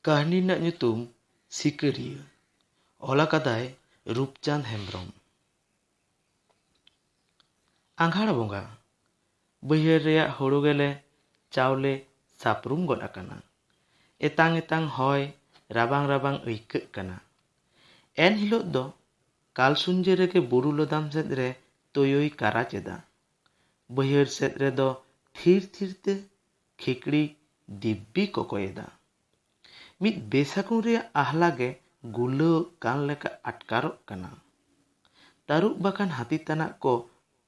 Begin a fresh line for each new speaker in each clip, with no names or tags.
ᱠᱟᱹᱦᱱᱤ ᱨᱮᱱᱟᱜ ᱧᱩᱛᱩᱢ ᱥᱤᱠᱟᱹᱨᱤᱭᱟᱹ ᱚᱞ ᱟᱠᱟᱫᱟᱭ ᱨᱩᱯᱪᱟᱸᱫᱽ ᱦᱮᱢᱵᱨᱚᱢ ᱟᱸᱜᱷᱟᱲ ᱵᱚᱸᱜᱟ ᱵᱟᱹᱭᱦᱟᱹᱲ ᱨᱮᱭᱟᱜ ᱦᱳᱲᱳ ᱜᱮᱞᱮ ᱪᱟᱣᱞᱮ ᱥᱟᱯᱨᱩᱢ ᱜᱚᱫ ᱟᱠᱟᱱᱟ ᱮᱛᱟᱝ ᱮᱛᱟᱝ ᱦᱚᱭ ᱨᱟᱵᱟᱝ ᱨᱟᱵᱟᱝ ᱟᱹᱭᱠᱟᱹᱜ ᱠᱟᱱᱟ ᱮᱱ ᱦᱤᱞᱳᱜ ᱫᱚ ᱠᱟᱞ ᱥᱩᱧᱡᱟᱹ ᱨᱮᱜᱮ ᱵᱩᱨᱩ ᱞᱚᱫᱟᱢ ᱥᱮᱫ ᱨᱮ ᱛᱳᱭᱳᱭ ᱠᱟᱨᱟᱪ ᱮᱫᱟ ᱵᱟᱹᱭᱦᱟᱹᱲ ᱥᱮᱫ ᱨᱮᱫᱚ ᱛᱷᱤᱨ ᱛᱷᱤᱨ ᱛᱮ ᱠᱷᱤᱠᱲᱤ ᱫᱤᱵᱵᱤ ᱠᱚᱠᱚᱭ ᱮᱫᱟ᱾ ᱢᱤᱫ ᱵᱮᱥᱟᱹᱜᱩᱱ ᱨᱮᱭᱟᱜ ᱟᱦᱞᱟ ᱜᱮ ᱜᱩᱨᱞᱟᱹᱣᱜ ᱠᱟᱱ ᱞᱮᱠᱟ ᱟᱴᱠᱟᱨᱚᱜ ᱠᱟᱱᱟ᱾ ᱛᱟᱹᱨᱩᱵ ᱵᱟᱠᱷᱟᱱ ᱦᱟᱹᱛᱤ ᱛᱟᱱᱟᱜ ᱠᱚ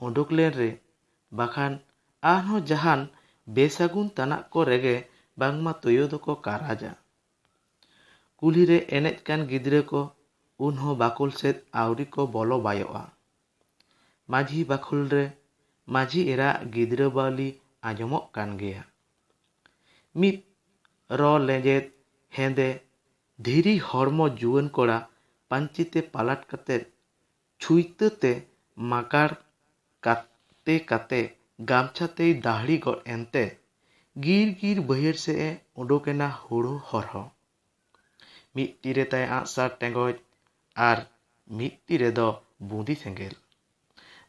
ᱚᱰᱚᱠ ᱞᱮᱱ ᱨᱮ ᱵᱟᱠᱷᱟᱱ ᱟᱨᱦᱚᱸ ᱡᱟᱦᱟᱱ ᱵᱮᱥᱟᱹᱜᱩᱱ ᱛᱟᱱᱟᱜ ᱠᱚ ᱨᱮᱜᱮ ᱵᱟᱝᱢᱟ ᱛᱳᱭᱳ ᱫᱚᱠᱚ ᱠᱟᱨᱟᱡᱟ᱾ ᱠᱩᱞᱦᱤ ᱨᱮ ᱮᱱᱮᱡ ᱠᱟᱱ ᱜᱤᱫᱽᱨᱟᱹ ᱠᱚ ᱩᱱᱦᱚᱸ ᱵᱟᱠᱳᱞ ᱥᱮᱫ ᱟᱹᱣᱨᱤ ᱠᱚ ᱵᱚᱞᱚ ᱵᱟᱭᱚᱜᱼᱟ᱾ ᱢᱟᱹᱡᱷᱤ ᱵᱟᱠᱷᱩᱞ ᱨᱮ ᱢᱟᱹᱡᱷᱤ ᱮᱨᱟ ᱟᱜ ᱜᱤᱫᱽᱨᱟᱹ ᱵᱟᱹᱣᱞᱤ ᱟᱸᱡᱚᱢᱚᱜ ᱠᱟᱱ ᱜᱮᱭᱟ᱾ ᱢᱤᱫ ᱨᱚ ᱞᱮᱸᱡᱮᱫ ᱦᱮᱸᱫᱮ ᱫᱷᱤᱨᱤ ᱦᱚᱲᱢᱚ ᱡᱩᱣᱟᱹᱱ ᱠᱚᱲᱟ ᱯᱟᱹᱧᱪᱤ ᱛᱮ ᱯᱟᱞᱟᱴ ᱠᱟᱛᱮ ᱪᱷᱩᱭᱛᱟᱹ ᱛᱮ ᱢᱟᱠᱟᱲ ᱠᱟᱛᱮ ᱠᱟᱛᱮ ᱜᱟᱢᱪᱷᱟ ᱛᱮᱭ ᱫᱟᱦᱲᱤ ᱜᱚᱫ ᱮᱱᱛᱮ ᱜᱤᱨ ᱜᱤᱨ ᱵᱟᱹᱭᱦᱟᱹᱲ ᱥᱮᱫ ᱮ ᱩᱰᱩᱠ ᱮᱱᱟ ᱦᱩᱲᱩ ᱦᱚᱨᱦᱚ᱾ ᱢᱤᱫ ᱛᱤ ᱨᱮ ᱛᱟᱭ ᱟᱸᱜᱼᱥᱟᱨ ᱴᱮᱸᱜᱚᱡ ᱟᱨ ᱢᱤᱫ ᱛᱤ ᱨᱮ ᱫᱚ ᱵᱩᱸᱫᱤ ᱥᱮᱸᱜᱮᱞ᱾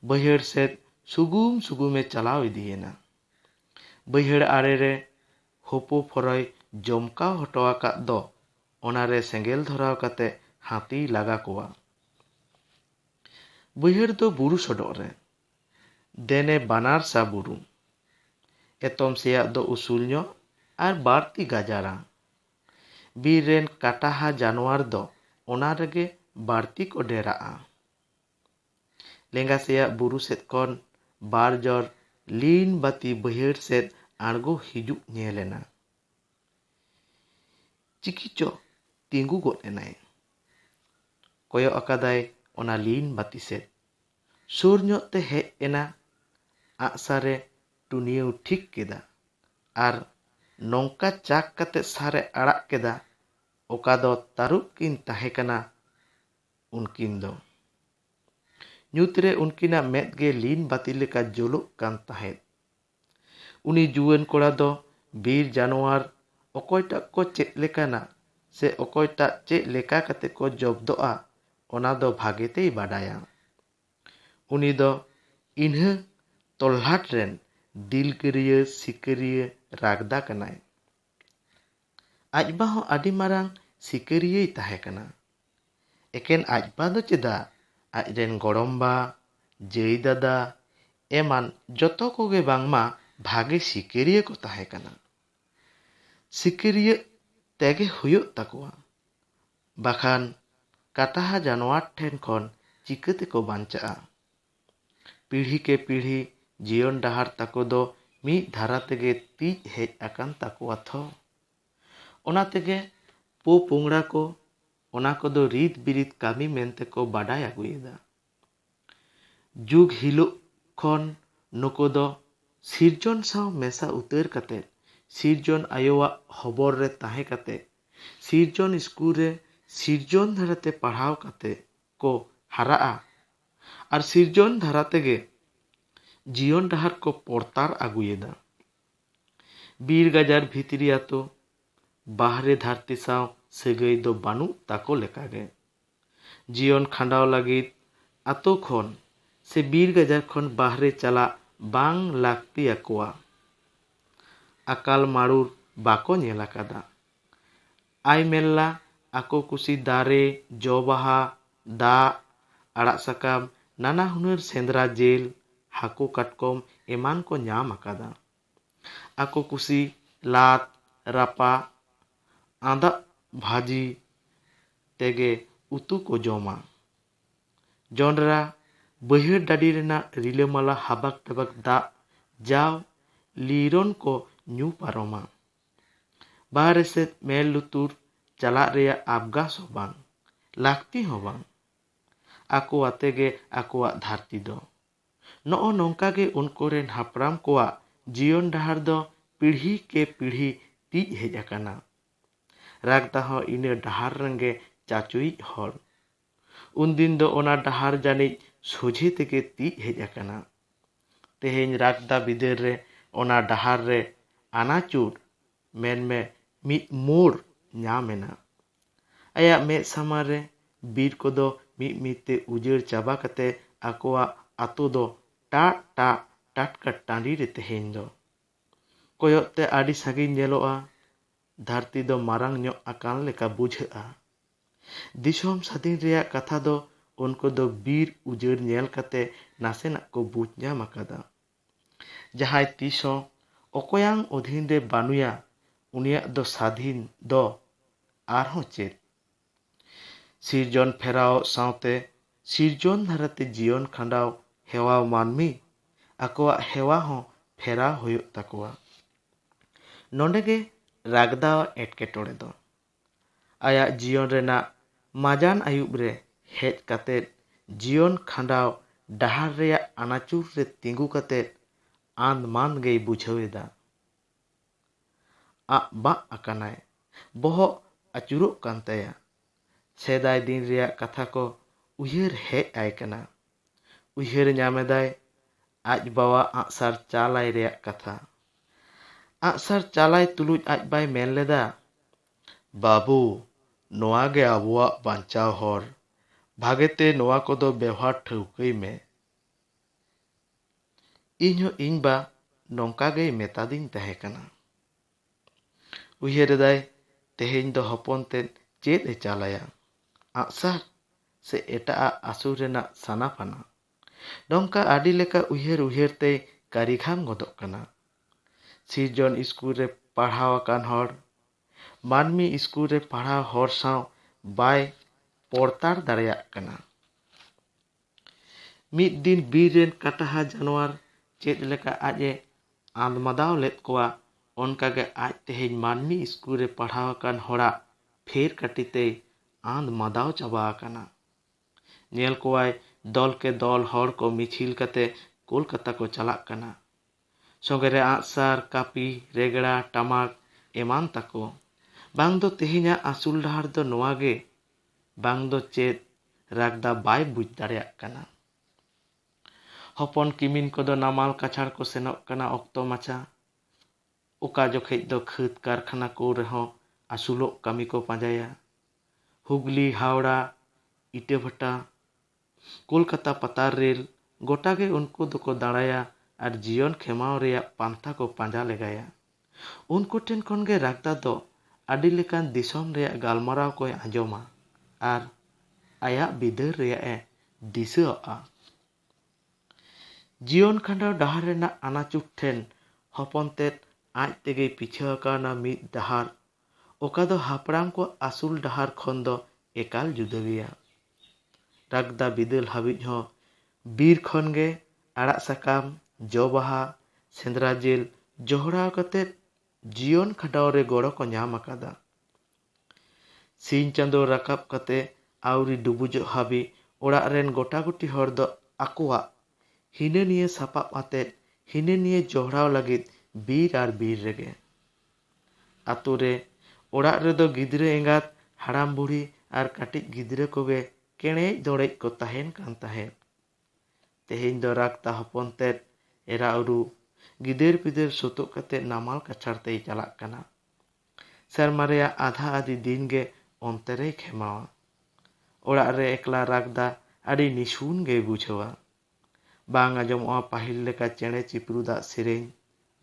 ᱵᱟᱹᱭᱦᱟᱹᱲ ᱥᱮᱫ ᱥᱩᱜᱩᱢ ᱥᱩᱜᱩᱢ ᱮ ᱪᱟᱞᱟᱣ ᱤᱫᱤ ᱮᱱᱟ᱾ ᱵᱟᱹᱭᱦᱟᱹᱲ ᱟᱲᱮ ᱨᱮ ᱦᱳᱯᱳ ᱯᱷᱚᱨᱚᱭ ᱡᱚᱢᱠᱟᱣ ᱦᱚᱴᱚ ᱟᱠᱟᱫ ᱫᱚ ᱚᱱᱟ ᱨᱮ ᱥᱮᱸᱜᱮᱞ ᱫᱷᱚᱨᱟᱣ ᱠᱟᱛᱮ ᱦᱟᱹᱛᱤᱭ ᱞᱟᱜᱟ ᱠᱚᱣᱟ᱾ ᱵᱟᱹᱭᱦᱟᱹᱲ ᱫᱚ ᱵᱩᱨᱩ ᱥᱚᱰᱚᱜ ᱨᱮ᱾ ᱫᱮᱱᱮ ᱵᱟᱱᱟᱨ ᱥᱟ ᱵᱩᱨᱩ᱾ ᱮᱛᱚᱢ ᱥᱮᱭᱟᱜ ᱫᱚ ᱩᱥᱩᱞ ᱧᱚᱜ ᱟᱨ ᱵᱟᱹᱲᱛᱤ ᱜᱟᱡᱟᱲᱟ᱾ ᱵᱤᱨ ᱨᱮᱱ ᱠᱟᱴᱟᱦᱟ ᱡᱟᱱᱣᱟᱨ ᱫᱚ ᱚᱱᱟ ᱨᱮᱜᱮ ᱵᱟᱹᱲᱛᱤ ᱠᱚ ᱰᱮᱨᱟᱜᱼᱟ᱾ ᱞᱮᱸᱜᱟ ᱥᱮᱭᱟᱜ ᱵᱩᱨᱩ ᱥᱮᱫ ᱠᱷᱚᱱ ᱵᱟᱨ ᱡᱚᱨ ᱞᱤᱱ ᱵᱟᱹᱛᱤ ᱵᱟᱹᱭᱦᱟᱹᱲ ᱥᱮᱫ ᱟᱬᱜᱚ ᱦᱤᱡᱩᱜ ᱧᱮᱞ ᱮᱱᱟ᱾ ᱪᱤᱠᱤᱪᱚ ᱛᱤᱸᱜᱩ ᱜᱚᱫ ᱮᱱᱟᱭ᱾ ᱠᱚᱭᱚᱜ ᱟᱠᱟᱫᱟᱭ ᱚᱱᱟ ᱞᱤᱱ ᱵᱟᱹᱛᱤ ᱥᱮᱫ᱾ ᱥᱩᱨ ᱧᱚᱜ ᱛᱮ ᱦᱮᱡ ᱮᱱᱟ ᱟᱜᱼᱥᱟᱨ ᱮ ᱴᱩᱱᱤᱭᱟᱹᱣ ᱴᱷᱤᱠ ᱠᱮᱫᱟ᱾ ᱟᱨ ᱱᱚᱝᱠᱟ ᱪᱟᱠ ᱠᱟᱛᱮ ᱥᱟᱨ ᱮ ᱟᱲᱟᱜ ᱠᱮᱫᱟ ᱚᱠᱟ ᱫᱚ ᱛᱟᱹᱨᱩᱵ ᱠᱤᱱ ᱛᱟᱦᱮᱸ ᱠᱟᱱᱟ ᱩᱱᱠᱤᱱ ᱫᱚ᱾ ᱧᱩᱛ ᱨᱮ ᱩᱱᱠᱤᱱᱟᱜ ᱢᱮᱫ ᱜᱮ ᱞᱤᱱ ᱵᱟᱹᱛᱤ ᱞᱮᱠᱟ ᱡᱳᱞᱳᱜ ᱠᱟᱱ ᱛᱟᱦᱮᱸᱫ᱾ ᱩᱱᱤ ᱡᱩᱣᱟᱹᱱ ᱠᱚᱲᱟ ᱫᱚ ᱵᱤᱨ ᱡᱟᱱᱣᱟᱨ ᱚᱠᱚᱭ ᱴᱟᱜ ᱠᱚ ᱪᱮᱫ ᱞᱮᱠᱟᱱᱟ ᱥᱮ ᱚᱠᱚᱭ ᱴᱟᱜ ᱪᱮᱫ ᱞᱮᱠᱟ ᱠᱟᱛᱮ ᱠᱚ ᱡᱚᱵᱽᱫᱚᱜᱼᱟ ᱚᱱᱟ ᱫᱚ ᱵᱷᱟᱜᱮ ᱛᱮᱭ ᱵᱟᱰᱟᱭᱟ᱾ ᱩᱱᱤ ᱫᱚ ᱤᱱᱦᱟᱹ ᱛᱚᱞᱞᱟᱴ ᱨᱮᱱ ᱫᱤᱞᱜᱟᱹᱨᱤᱭᱟᱹ ᱥᱤᱠᱟᱹᱨᱤᱭᱟᱹ ᱨᱟᱜᱽᱫᱟ ᱠᱟᱱᱟᱭ᱾ ᱟᱡ ᱵᱟ ᱦᱚᱸ ᱟᱹᱰᱤ ᱢᱟᱨᱟᱝ ᱥᱤᱠᱟᱹᱨᱤᱭᱟᱹᱭ ᱛᱟᱦᱮᱸ ᱠᱟᱱᱟ᱾ ᱮᱠᱮᱱ ᱟᱡ ᱵᱟ ᱫᱚ ᱪᱮᱫᱟᱜ ᱟᱡ ᱨᱮᱱ ᱜᱚᱲᱚᱢ ᱵᱟ, ᱡᱟᱹᱭ ᱫᱟᱫᱟ ᱮᱢᱟᱱ ᱡᱚᱛᱚ ᱠᱚᱜᱮ ᱵᱟᱝᱢᱟ ᱵᱷᱟᱜᱮ ᱥᱤᱠᱟᱹᱨᱤᱭᱟᱹ ᱠᱚ ᱛᱟᱦᱮᱸ ᱠᱟᱱᱟ᱾ ᱥᱤᱠᱟᱹᱨᱤᱭᱟᱹᱜ ᱛᱮᱜᱮ ᱦᱩᱭᱩᱜ ᱛᱟᱠᱚᱣᱟ᱾ ᱵᱟᱠᱷᱟᱱ ᱠᱟᱛᱟᱦᱟ ᱡᱟᱱᱣᱟᱨ ᱴᱷᱮᱱ ᱠᱷᱚᱱ ᱪᱤᱠᱟᱹ ᱛᱮᱠᱚ ᱵᱟᱧᱪᱟᱜᱼᱟ? ᱯᱤᱲᱦᱤ ᱠᱮ ᱯᱤᱲᱦᱤ ᱡᱤᱭᱚᱱ ᱰᱟᱦᱟᱨ ᱛᱟᱠᱚ ᱫᱚ ᱢᱤᱫ ᱫᱷᱟᱨᱟ ᱛᱮᱜᱮ ᱛᱤᱡ ᱦᱮᱡ ᱟᱠᱟᱱ ᱛᱟᱠᱚᱣᱟ ᱛᱷᱚ᱾ ᱚᱱᱟ ᱛᱮᱜᱮ ᱯᱳ ᱯᱳᱝᱲᱟ ᱠᱚ ᱚᱱᱟ ᱠᱚᱫᱚ ᱨᱤᱛ ᱵᱤᱨᱤᱛ ᱠᱟᱹᱢᱤ ᱢᱮᱱᱛᱮ ᱠᱚ ᱵᱟᱰᱟᱭ ᱟᱹᱜᱩᱭᱮᱫᱟ᱾ ᱡᱩᱜᱽ ᱦᱤᱞᱩᱜ ᱠᱷᱚᱱ ᱱᱩᱠᱩ ᱫᱚ ᱥᱤᱨᱡᱚᱱ ᱥᱟᱶ ᱢᱮᱥᱟ ᱩᱛᱟᱹᱨ ᱠᱟᱛᱮ ᱥᱤᱨᱡᱚᱱ ᱟᱭᱳᱣᱟᱜ ᱦᱚᱵᱚᱨ ᱨᱮ ᱛᱟᱦᱮᱸ ᱠᱟᱛᱮ ᱥᱤᱨᱡᱚᱱ ᱤᱥᱠᱩᱞ ᱨᱮ ᱥᱤᱨᱡᱚᱱ ᱫᱷᱟᱨᱟ ᱛᱮ ᱯᱟᱲᱦᱟᱣ ᱠᱟᱛᱮ ᱠᱚ ᱦᱟᱨᱟᱜᱼᱟ ᱟᱨ ᱥᱤᱨᱡᱚᱱ ᱫᱷᱟᱨᱟ ᱛᱮᱜᱮ ᱡᱤᱭᱚᱱ ᱰᱟᱦᱟᱨ ᱠᱚ ᱯᱚᱲᱛᱟᱨ ᱟᱹᱜᱩᱭᱮᱫᱟ᱾ ᱵᱤᱨ ᱜᱟᱡᱟᱲ ᱵᱷᱤᱛᱨᱤ ᱟᱛᱳ, ᱵᱟᱦᱨᱮ ᱫᱷᱟᱹᱨᱛᱤ ᱥᱟᱶ ᱥᱟᱹᱜᱟᱹᱭ ᱫᱚ ᱵᱟᱹᱱᱩᱜ ᱛᱟᱠᱚ ᱞᱮᱠᱟ ᱜᱮ᱾ ᱡᱤᱭᱚᱱ ᱠᱷᱟᱸᱰᱟᱣ ᱞᱟᱹᱜᱤᱫ ᱟᱛᱳ ᱠᱷᱚᱱ ᱥᱮ ᱵᱤᱨ ᱜᱟᱡᱟᱲ ᱠᱷᱚᱱ ᱵᱟᱦᱨᱮ ᱪᱟᱞᱟᱜ ᱵᱟᱝ ᱞᱟᱹᱠᱛᱤ ᱟᱠᱚᱣᱟ᱾ ᱟᱠᱟᱞ ᱢᱟᱲᱩᱨ ᱵᱟᱠᱚ ᱧᱮᱞ ᱟᱠᱟᱫᱟ᱾ ᱟᱭ ᱢᱮᱞᱞᱟ ᱟᱠᱚ ᱠᱩᱥᱤ ᱫᱟᱨᱮ, ᱡᱚ ᱵᱟᱦᱟ, ᱫᱟᱜ, ᱟᱲᱟᱜ ᱥᱟᱠᱟᱢ, ᱱᱟᱱᱟ ᱦᱩᱱᱟᱹᱨ ᱥᱮᱸᱫᱽᱨᱟ ᱡᱮᱞ, ᱦᱟᱹᱠᱩ ᱠᱟᱴᱠᱚᱢ ᱮᱢᱟᱱ ᱠᱚ ᱧᱟᱢ ᱟᱠᱟᱫᱟ᱾ ᱟᱠᱚ ᱠᱩᱥᱤ ᱞᱟᱫ, ᱨᱟᱯᱟᱜ, ᱟᱸᱫᱟᱜ ᱵᱷᱟᱹᱡᱤ ᱛᱮᱜᱮ ᱩᱛᱩ ᱠᱚ ᱡᱚᱢᱟ᱾ ᱡᱚᱸᱰᱨᱟ ᱵᱟᱹᱭᱦᱟᱹᱲ ᱰᱟᱹᱰᱤ ᱨᱮᱱᱟᱜ ᱨᱤᱞᱟᱹᱢᱟᱞᱟ ᱦᱟᱵᱟᱠ ᱰᱟᱵᱟᱠ ᱫᱟᱜ ᱡᱟᱣ ᱞᱤᱨᱚᱱ ᱠᱚ ᱧᱩ ᱯᱟᱨᱚᱢᱟ᱾ ᱵᱟᱦᱨᱮ ᱥᱮᱫ ᱢᱮᱫ ᱞᱩᱛᱩᱨ ᱪᱟᱞᱟᱜ ᱨᱮᱭᱟᱜ ᱟᱵᱽᱜᱟᱥ ᱦᱚᱸ ᱵᱟᱝ, ᱞᱟᱹᱠᱛᱤ ᱦᱚᱸ ᱵᱟᱝ᱾ ᱟᱠᱚ ᱟᱛᱮ ᱜᱮ ᱟᱠᱚᱣᱟᱜ ᱫᱷᱟᱹᱨᱛᱤ ᱫᱚ᱾ ᱱᱚᱜᱼᱚ ᱱᱚᱝᱠᱟ ᱜᱮ ᱩᱱᱠᱩ ᱨᱮᱱ ᱦᱟᱯᱲᱟᱢ ᱠᱚᱣᱟᱜ ᱡᱤᱭᱚᱱ ᱰᱟᱦᱟᱨ ᱫᱚ ᱯᱤᱲᱦᱤ ᱠᱮ ᱯᱤᱲᱦᱤ ᱛᱤᱡ ᱦᱮᱡ ᱟᱠᱟᱱᱟ᱾ ᱨᱟᱜᱽᱫᱟ ᱦᱚᱸ ᱤᱱᱟᱹ ᱰᱟᱦᱟᱨ ᱨᱮᱱᱜᱮ ᱪᱟᱪᱳᱭᱤᱡ ᱦᱚᱲ᱾ ᱩᱱᱫᱤᱱ ᱫᱚ ᱚᱱᱟ ᱰᱟᱦᱟᱨ ᱡᱟᱹᱱᱤᱡ ᱥᱚᱡᱷᱮ ᱛᱮᱜᱮ ᱛᱤᱡ ᱦᱮᱡ ᱟᱠᱟᱱᱟ᱾ ᱛᱮᱦᱮᱧ ᱨᱟᱜᱽᱫᱟ ᱵᱤᱫᱟᱹᱞ ᱨᱮ ᱚᱱᱟ ᱰᱟᱦᱟᱨ ᱨᱮ ᱟᱱᱟᱪᱩᱨ, ᱢᱮᱱᱢᱮ ᱢᱤᱫ ᱢᱳᱲ ᱧᱟᱢ ᱮᱱᱟ᱾ ᱟᱭᱟᱜ ᱢᱮᱫ ᱥᱟᱢᱟᱝ ᱨᱮ ᱵᱤᱨ ᱠᱚᱫᱚ ᱢᱤᱫ ᱢᱤᱫ ᱛᱮ ᱩᱡᱟᱹᱲ ᱪᱟᱵᱟ ᱠᱟᱛᱮ ᱟᱠᱚᱣᱟᱜ ᱟᱛᱳ ᱫᱚ ᱴᱟᱜ ᱴᱟᱜ ᱴᱟᱴᱠᱟ ᱴᱟᱺᱰᱤ ᱨᱮ ᱛᱮᱦᱮᱧ ᱫᱚ᱾ ᱠᱚᱭᱚᱜ ᱛᱮ ᱟᱹᱰᱤ ᱥᱟᱺᱜᱤᱧ ᱧᱮᱞᱚᱜᱼᱟ᱾ ᱫᱷᱟᱹᱨᱛᱤ ᱫᱚ ᱢᱟᱨᱟᱝ ᱧᱚᱜ ᱟᱠᱟᱱ ᱞᱮᱠᱟ ᱵᱩᱡᱷᱟᱹᱜᱼᱟ᱾ ᱫᱤᱥᱚᱢ ᱥᱟᱹᱫᱷᱤᱱ ᱨᱮᱭᱟᱜ ᱠᱟᱛᱷᱟ ᱫᱚ ᱩᱱᱠᱩ ᱫᱚ ᱵᱤᱨ ᱩᱡᱟᱹᱲ ᱧᱮᱞ ᱠᱟᱛᱮ ᱱᱟᱥᱮᱱᱟᱜ ᱠᱚ ᱵᱩᱡᱽ ᱧᱟᱢ ᱟᱠᱟᱫᱟ᱾ ᱡᱟᱦᱟᱸᱭ ᱛᱤᱥ ᱦᱚᱸ ᱚᱠᱚᱭᱟᱝ ᱚᱫᱷᱤᱱ ᱨᱮ ᱵᱟᱹᱱᱩᱭᱟ ᱩᱱᱤᱭᱟᱜ ᱫᱚ ᱥᱟᱫᱷᱤᱱ ᱫᱚ ᱟᱨᱦᱚᱸ ᱪᱮᱫ? ᱥᱤᱨᱡᱚᱱ ᱯᱷᱮᱨᱟᱣ ᱥᱟᱶᱛᱮ ᱥᱤᱨᱡᱚᱱ ᱫᱷᱟᱨᱟᱛᱮ ᱡᱤᱭᱚᱱ ᱠᱷᱟᱸᱰᱟᱣ ᱦᱮᱣᱟᱣ ᱢᱟᱹᱱᱢᱤ ᱟᱠᱚᱣᱟᱜ ᱦᱮᱣᱟ ᱦᱚᱸ ᱯᱷᱮᱨᱟᱣ ᱦᱩᱭᱩᱜ ᱛᱟᱠᱚᱣᱟ᱾ ᱱᱚᱸᱰᱮ ᱜᱮ ᱨᱟᱜᱽᱫᱟᱣ ᱮᱴᱠᱮᱴᱚᱬᱮ ᱫᱚ᱾ ᱟᱭᱟᱜ ᱡᱤᱭᱚᱱ ᱨᱮᱱᱟᱜ ᱢᱟᱡᱟᱱ ᱟᱹᱭᱩᱵ ᱨᱮ ᱦᱮᱡ ᱠᱟᱛᱮ ᱡᱤᱭᱚᱱ ᱠᱷᱟᱸᱰᱟᱣ ᱰᱟᱦᱟᱨ ᱨᱮᱭᱟᱜ ᱟᱱᱟᱪᱩᱨ ᱨᱮ ᱛᱤᱸᱜᱩ ᱠᱟᱛᱮ ᱟᱸᱫᱽ ᱢᱟᱸᱫᱽ ᱜᱮᱭ ᱵᱩᱡᱷᱟᱹᱣ ᱮᱫᱟ᱾ ᱟᱜ ᱵᱟᱜ ᱟᱠᱟᱱᱟᱭ᱾ ᱵᱚᱦᱚᱜ ᱟᱹᱪᱩᱨᱚᱜ ᱠᱟᱱ ᱛᱟᱭᱟ᱾ ᱥᱮᱫᱟᱭ ᱫᱤᱱ ᱨᱮᱭᱟᱜ ᱠᱟᱛᱷᱟ ᱠᱚ ᱩᱭᱦᱟᱹᱨ ᱦᱮᱡ ᱟᱭ ᱠᱟᱱᱟ᱾ ᱩᱭᱦᱟᱹᱨ ᱧᱟᱢ ᱮᱫᱟᱭ ᱟᱡ ᱵᱟᱣᱟ ᱟᱸᱜᱥᱟᱨ ᱪᱟᱞ ᱟᱭ ᱨᱮᱭᱟᱜ ᱠᱟᱛᱷᱟ᱾ ᱟᱸᱜᱥᱟᱨ ᱪᱟᱞ ᱟᱭ ᱛᱩᱞᱩᱡ ᱟᱡ ᱵᱟᱭ ᱢᱮᱱ ᱞᱮᱫᱟ, ᱵᱟᱹᱵᱩ, ᱱᱚᱣᱟ ᱜᱮ ᱟᱵᱚᱣᱟᱜ ᱵᱟᱧᱪᱟᱣ ᱦᱚᱨ, ᱵᱷᱟᱜᱮ ᱛᱮ ᱱᱚᱣᱟ ᱠᱚᱫᱚ ᱵᱮᱣᱦᱟᱨ ᱴᱷᱟᱹᱣᱠᱟᱹᱭ ᱢᱮ᱾ ᱤᱧ ᱦᱚᱸ ᱤᱧ ᱵᱟ ᱱᱚᱝᱠᱟ ᱜᱮᱭ ᱢᱮᱛᱟᱫᱤᱧ ᱛᱟᱦᱮᱸ ᱠᱟᱱᱟ᱾ ᱩᱭᱦᱟᱹᱨ ᱮᱫᱟᱭ ᱛᱮᱦᱮᱧ ᱫᱚ ᱦᱚᱯᱚᱱ ᱛᱮᱫ ᱪᱮᱫ ᱮ ᱪᱟᱞ ᱟᱭᱟ, ᱟᱸᱜᱥᱟᱨ ᱥᱮ ᱮᱴᱟᱜ ᱟᱜ ᱟᱹᱥᱩᱞ ᱨᱮᱱᱟᱜ ᱥᱟᱱᱟ ᱯᱷᱟᱱᱟ᱾ ᱱᱚᱝᱠᱟ ᱟᱹᱰᱤ ᱞᱮᱠᱟ ᱩᱭᱦᱟᱹᱨ ᱩᱭᱦᱟᱹᱨ ᱛᱮᱭ ᱠᱟᱹᱨᱤᱜᱷᱟᱢ ᱜᱚᱫᱚᱜ ᱠᱟᱱᱟ᱾ ᱥᱤᱨᱡᱚᱱ ᱤᱥᱠᱩᱞ ᱨᱮ ᱯᱟᱲᱦᱟᱣ ᱟᱠᱟᱱ ᱦᱚᱲ, ᱢᱟᱹᱱᱢᱤ ᱤᱥᱠᱩᱞ ᱨᱮ ᱯᱟᱲᱦᱟᱣ ᱦᱚᱲ ᱥᱟᱶ ᱵᱟᱭ ᱯᱚᱲᱛᱟᱲ ᱫᱟᱲᱮᱭᱟᱜ ᱠᱟᱱᱟ᱾ ᱢᱤᱫ ᱫᱤᱱ ᱵᱤᱨ ᱨᱮᱱ ᱠᱟᱴᱟᱦᱟ ᱡᱟᱱᱣᱟᱨ ᱪᱮᱫ ᱞᱮᱠᱟ ᱟᱡ ᱮ ᱟᱸᱫᱽᱢᱟᱫᱟᱣ ᱞᱮᱫ ᱠᱚᱣᱟ ᱚᱱᱠᱟ ᱜᱮ ᱟᱡ ᱛᱮᱦᱮᱧ ᱢᱟᱹᱱᱢᱤ ᱤᱥᱠᱩᱞ ᱨᱮ ᱯᱟᱲᱦᱟᱣ ᱟᱠᱟᱱ ᱦᱚᱲᱟᱜ ᱯᱷᱮᱨ ᱠᱟᱹᱴᱤ ᱛᱮᱭ ᱟᱸᱫᱽᱢᱟᱫᱟᱣ ᱪᱟᱵᱟ ᱟᱠᱟᱱᱟ᱾ ᱧᱮᱞ ᱠᱚᱣᱟᱭ ᱫᱚᱞ ᱠᱮ ᱫᱚᱞ ᱦᱚᱲ ᱠᱚ ᱢᱤᱪᱷᱤᱞ ᱠᱟᱛᱮ ᱠᱚᱞᱠᱟᱛᱟ ᱠᱚ ᱪᱟᱞᱟᱜ ᱠᱟᱱᱟ᱾ ᱥᱚᱸᱜᱮ ᱨᱮ ᱟᱸᱜᱥᱟᱨ, ᱠᱟᱹᱯᱤ, ᱨᱮᱜᱽᱲᱟ, ᱴᱟᱢᱟᱠ ᱮᱢᱟᱱ ᱛᱟᱠᱚ᱾ ᱵᱟᱝ ᱫᱚ ᱛᱮᱦᱮᱧᱟᱜ ᱟᱹᱥᱩᱞ ᱰᱟᱦᱟᱨ ᱫᱚ ᱱᱚᱣᱟ ᱜᱮ ᱵᱟᱝ ᱫᱚ ᱪᱮᱫ ᱨᱟᱜᱽᱫᱟ ᱵᱟᱭ ᱵᱩᱡᱽ ᱫᱟᱲᱮᱭᱟᱜ ᱠᱟᱱᱟ᱾ ᱦᱚᱯᱚᱱ ᱠᱤᱢᱤᱱ ᱠᱚᱫᱚ ᱱᱟᱢᱟᱞ ᱠᱟᱪᱷᱟᱲ ᱠᱚ ᱥᱮᱱᱚᱜ ᱠᱟᱱᱟ ᱚᱠᱛᱚ ᱢᱟᱪᱷᱟ᱾ ᱚᱠᱟ ᱡᱚᱠᱷᱮᱡ ᱫᱚ ᱠᱷᱟᱹᱫᱽ ᱠᱟᱨᱠᱷᱟᱱᱟ ᱠᱚ ᱨᱮᱦᱚᱸ ᱟᱹᱥᱩᱞᱚᱜ ᱠᱟᱹᱢᱤ ᱠᱚ ᱯᱟᱸᱡᱟᱭᱟ᱾ ᱦᱩᱜᱽᱞᱤ, ᱦᱟᱣᱲᱟ, ᱤᱴᱟᱹᱵᱷᱟᱴᱟ, ᱠᱚᱞᱠᱟᱛᱟ ᱯᱟᱛᱟᱨ ᱨᱮᱞ ᱜᱚᱴᱟ ᱜᱮ ᱩᱱᱠᱩ ᱫᱚᱠᱚ ᱫᱟᱬᱟᱭᱟ ᱟᱨ ᱡᱤᱭᱚᱱ ᱠᱷᱮᱢᱟᱣ ᱨᱮᱭᱟᱜ ᱯᱟᱱᱛᱷᱟ ᱠᱚ ᱯᱟᱸᱡᱟ ᱞᱮᱜᱟᱭᱟ᱾ ᱩᱱᱠᱩ ᱴᱷᱮᱱ ᱠᱷᱚᱱ ᱜᱮ ᱨᱟᱜᱽᱫᱟ ᱫᱚ ᱟᱹᱰᱤ ᱞᱮᱠᱟᱱ ᱫᱤᱥᱚᱢ ᱨᱮᱭᱟᱜ ᱜᱟᱞᱢᱟᱨᱟᱣ ᱠᱚᱭ ᱟᱸᱡᱚᱢᱟ ᱟᱨ ᱟᱭᱟᱜ ᱵᱤᱫᱟᱹᱨ ᱨᱮᱭᱟᱜ ᱮ ᱫᱤᱥᱟᱹ ᱟᱜᱼᱟ᱾ ᱡᱤᱭᱚᱱ ᱠᱷᱟᱸᱰᱟᱣ ᱰᱟᱦᱟᱨ ᱨᱮᱱᱟᱜ ᱟᱱᱟᱪᱩᱴ ᱴᱷᱮᱱ ᱦᱚᱯᱚᱱ ᱛᱮᱫ ᱟᱡ ᱛᱮᱜᱮᱭ ᱯᱤᱪᱷᱟᱹ ᱟᱠᱟᱣᱱᱟ ᱢᱤᱫ ᱰᱟᱦᱟᱨ ᱚᱠᱟ ᱫᱚ ᱦᱟᱯᱲᱟᱢ ᱠᱚᱣᱟᱜ ᱟᱹᱥᱩᱞ ᱰᱟᱦᱟᱨ ᱠᱷᱚᱱ ᱫᱚ ᱮᱠᱟᱞ ᱡᱩᱫᱟᱹ ᱜᱮᱭᱟ᱾ ᱨᱟᱜᱽᱫᱟ ᱵᱤᱫᱟᱹᱞ ᱦᱟᱹᱵᱤᱡ ᱦᱚᱸ ᱵᱤᱨ ᱠᱷᱚᱱ ᱜᱮ ᱟᱲᱟᱜ ᱥᱟᱠᱟᱢ, ᱡᱚ ᱵᱟᱦᱟ, ᱥᱮᱸᱫᱽᱨᱟ ᱡᱤᱞ ᱡᱚᱦᱲᱟᱣ ᱠᱟᱛᱮ ᱡᱤᱭᱚᱱ ᱠᱷᱟᱸᱰᱟᱣ ᱨᱮ ᱜᱚᱲᱚ ᱠᱚ ᱧᱟᱢ ᱟᱠᱟᱫᱟ᱾ ᱥᱤᱧ ᱪᱟᱸᱫᱚ ᱨᱟᱠᱟᱵ ᱠᱟᱛᱮ ᱟᱹᱣᱨᱤ ᱰᱩᱵᱩᱡᱚᱜ ᱦᱟᱹᱵᱤᱡ ᱚᱲᱟᱜ ᱨᱮᱱ ᱜᱚᱴᱟᱜᱩᱴᱤ ᱦᱚᱲ ᱫᱚ ᱟᱠᱚᱣᱟᱜ ᱦᱤᱱᱟᱹᱱᱤᱭᱟᱹ ᱥᱟᱯᱟᱵ ᱟᱛᱮ ᱦᱤᱱᱟᱹᱱᱤᱭᱟᱹ ᱡᱚᱦᱲᱟᱣ ᱞᱟᱹᱜᱤᱫ ᱵᱤᱨ ᱟᱨ ᱵᱤᱨ ᱨᱮᱜᱮ᱾ ᱟᱹᱛᱩ ᱨᱮ ᱚᱲᱟᱜ ᱨᱮᱫᱚ ᱜᱤᱫᱽᱨᱟᱹ ᱮᱸᱜᱟᱛ, ᱦᱟᱲᱟᱢ ᱵᱩᱲᱦᱤ ᱟᱨ ᱠᱟᱹᱴᱤᱡ ᱜᱤᱫᱽᱨᱟᱹ ᱠᱚᱜᱮ ᱠᱮᱬᱮᱡ ᱫᱚᱬᱮᱡ ᱠᱚ ᱛᱟᱦᱮᱸᱱ ᱠᱟᱱ ᱛᱟᱦᱮᱸᱫ᱾ ᱛᱮᱦᱮᱧ ᱫᱚ ᱨᱟᱠᱛᱟ ᱦᱚᱯᱚᱱ ᱛᱮᱫ, ᱮᱨᱟ ᱩᱨᱩ, ᱜᱤᱫᱟᱹᱨ ᱯᱤᱫᱟᱹᱨ ᱥᱩᱛᱩᱜ ᱠᱟᱛᱮ ᱱᱟᱢᱟᱞ ᱠᱟᱪᱷᱟᱲ ᱛᱮᱭ ᱪᱟᱞᱟᱜ ᱠᱟᱱᱟ᱾ ᱥᱮᱨᱢᱟ ᱨᱮᱭᱟᱜ ᱟᱫᱷᱟ ᱟᱫᱷᱤ ᱫᱤᱱ ᱜᱮ ᱚᱱᱛᱮ ᱨᱮᱭ ᱠᱷᱮᱢᱟᱣᱟ᱾ ᱚᱲᱟᱜ ᱨᱮ ᱮᱠᱞᱟ ᱨᱟᱠᱫᱟ ᱟᱹᱰᱤ ᱱᱤᱥᱩᱱ ᱜᱮᱭ ᱵᱩᱡᱷᱟᱹᱣᱟ᱾ ᱵᱟᱝ ᱟᱸᱡᱚᱢᱚᱜᱼᱟ ᱯᱟᱹᱦᱤᱞ ᱞᱮᱠᱟ ᱪᱮᱬᱮ ᱪᱤᱯᱨᱩᱫ ᱟᱜ ᱥᱮᱨᱮᱧ,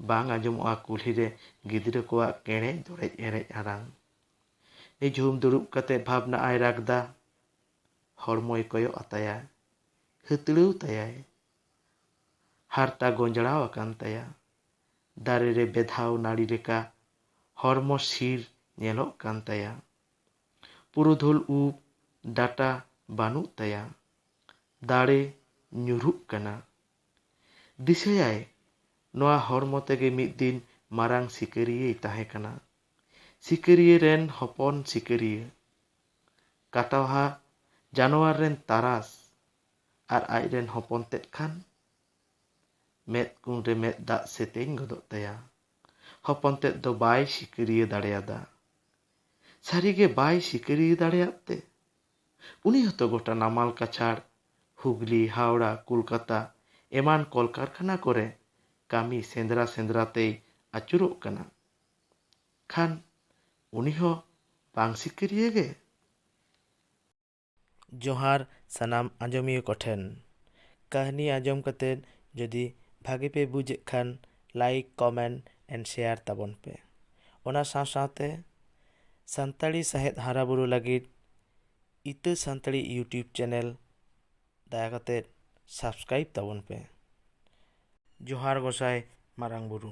ᱵᱟᱝ ᱟᱸᱡᱚᱢᱚᱜᱼᱟ ᱠᱩᱞᱦᱤ ᱨᱮ ᱜᱤᱫᱽᱨᱟᱹ ᱠᱚᱣᱟᱜ ᱠᱮᱬᱮᱡ ᱫᱚᱲᱮᱡ ᱮᱱᱮᱡ ᱟᱲᱟᱝ᱾ ᱱᱤᱡᱷᱩᱢ ᱫᱩᱲᱩᱵ ᱠᱟᱛᱮ ᱵᱷᱟᱵᱽᱱᱟᱜᱼᱟᱭ ᱨᱟᱠᱫᱟ᱾ ᱦᱚᱲᱢᱚᱭ ᱠᱚᱭᱚᱜ ᱟᱛᱟᱭᱟ᱾ ᱦᱟᱹᱛᱲᱟᱹᱣ ᱛᱟᱭᱟᱭ᱾ ᱦᱟᱨᱛᱟ ᱜᱚᱸᱡᱽᱲᱟᱣ ᱟᱠᱟᱱ ᱛᱟᱭᱟ᱾ ᱫᱟᱨᱮ ᱨᱮ ᱵᱮᱫᱷᱟᱣ ᱱᱟᱹᱲᱤ ᱞᱮᱠᱟ ᱦᱚᱲᱢᱚ ᱥᱤᱲ ᱧᱮᱞᱚᱜ ᱠᱟᱱ ᱛᱟᱭᱟ᱾ ᱯᱩᱨᱩᱫᱷᱩᱞ ᱩᱵ ᱰᱟᱴᱟ ᱵᱟᱹᱱᱩᱜ ᱛᱟᱭᱟ᱾ ᱫᱟᱲᱮ ᱧᱩᱨᱦᱩᱜ ᱠᱟᱱᱟ᱾ ᱫᱤᱥᱟᱹᱭᱟᱭ ᱱᱚᱶᱟ ᱦᱚᱲᱢᱚ ᱛᱮᱜᱮ ᱢᱤᱫ ᱫᱤᱱ ᱢᱟᱨᱟᱝ ᱥᱤᱠᱟᱹᱨᱤᱭᱟᱹᱭ ᱛᱟᱦᱮᱸ ᱠᱟᱱᱟ᱾ ᱥᱤᱠᱟᱹᱨᱤᱭᱟᱹ ᱨᱮᱱ ᱦᱚᱯᱚᱱ ᱥᱤᱠᱟᱹᱨᱤᱭᱟᱹ᱾ ᱠᱟᱴᱣᱟᱦᱟ ᱡᱟᱱᱣᱟᱨ ᱨᱮᱱ ᱛᱟᱨᱟᱥ ᱟᱨ ᱟᱡ ᱨᱮᱱ ᱦᱚᱯᱚᱱ ᱛᱮᱫ ᱠᱷᱟᱱ ᱢᱮᱫ ᱠᱩᱱ ᱨᱮ ᱢᱮᱫ ᱫᱟᱜ ᱥᱮᱛᱮᱧ ᱜᱚᱫᱚᱜ ᱛᱟᱭᱟ᱾ ᱦᱚᱯᱚᱱ ᱛᱮᱫ ᱫᱚ ᱵᱟᱭ ᱥᱤᱠᱟᱹᱨᱤᱭᱟᱹ ᱫᱟᱲᱮᱭᱟᱫᱟ᱾ ᱥᱟᱹᱨᱤ ᱜᱮ ᱵᱟᱭ ᱥᱤᱠᱟᱹᱨᱤᱭᱟᱹ ᱫᱟᱲᱮᱭᱟᱫ ᱛᱮ ᱩᱱᱤ ᱦᱚᱸᱛᱚ ᱜᱚᱴᱟ ᱱᱟᱢᱟᱞ ᱠᱟᱪᱷᱟᱲ, ᱦᱩᱜᱽᱞᱤ, ᱦᱟᱣᱲᱟ, ᱠᱚᱞᱠᱟᱛᱟ ᱮᱢᱟᱱ ᱠᱚᱞᱠᱟᱨᱠᱷᱟᱱᱟ ᱠᱚᱨᱮ ᱠᱟᱹᱢᱤ ᱥᱮᱸᱫᱽᱨᱟ ᱥᱮᱸᱫᱽᱨᱟ ᱛᱮᱭ ᱟᱹᱪᱩᱨᱚᱜ ᱠᱟᱱᱟ᱾ ᱠᱷᱟᱱ ᱩᱱᱤ ᱦᱚᱸ ᱵᱟᱝ ᱥᱤᱠᱟᱹᱨᱤᱭᱟᱹ ᱜᱮ?
ᱡᱚᱦᱟᱨ ᱥᱟᱱᱟᱢ ᱟᱸᱡᱚᱢᱤᱭᱟᱹ ᱠᱚ ᱴᱷᱮᱱ᱾ ᱠᱟᱹᱦᱱᱤ ᱟᱸᱡᱚᱢ ᱠᱟᱛᱮ ᱡᱩᱫᱤ ᱵᱷᱟᱜᱮ ᱯᱮ ᱵᱩᱡᱽ ᱮᱫ ᱠᱷᱟᱱ ᱞᱟᱭᱤᱠ, ᱠᱚᱢᱮᱱᱴ ᱮᱱᱰ ᱥᱮᱭᱟᱨ ᱛᱟᱵᱚᱱ ᱯᱮ᱾ ᱚᱱᱟ ᱥᱟᱶ ᱥᱟᱶᱛᱮ ᱥᱟᱱᱛᱟᱲᱤ ᱥᱟᱶᱦᱮᱫ ᱦᱟᱨᱟ ᱵᱩᱨᱩ ᱞᱟᱹᱜᱤᱫ ᱤᱛᱟᱹ ᱥᱟᱱᱛᱟᱲᱤ ᱭᱩᱴᱭᱩᱵᱽ ᱪᱮᱱᱮᱞ ᱫᱟᱭᱟ ᱠᱟᱛᱮ ᱥᱟᱵᱽᱥᱠᱨᱟᱭᱤᱵᱽ ᱛᱟᱵᱚᱱ ᱯᱮ᱾ ᱡᱚᱦᱟᱨ ᱜᱚᱸᱥᱟᱭ ᱢᱟᱨᱟᱝ ᱵᱩᱨᱩ᱾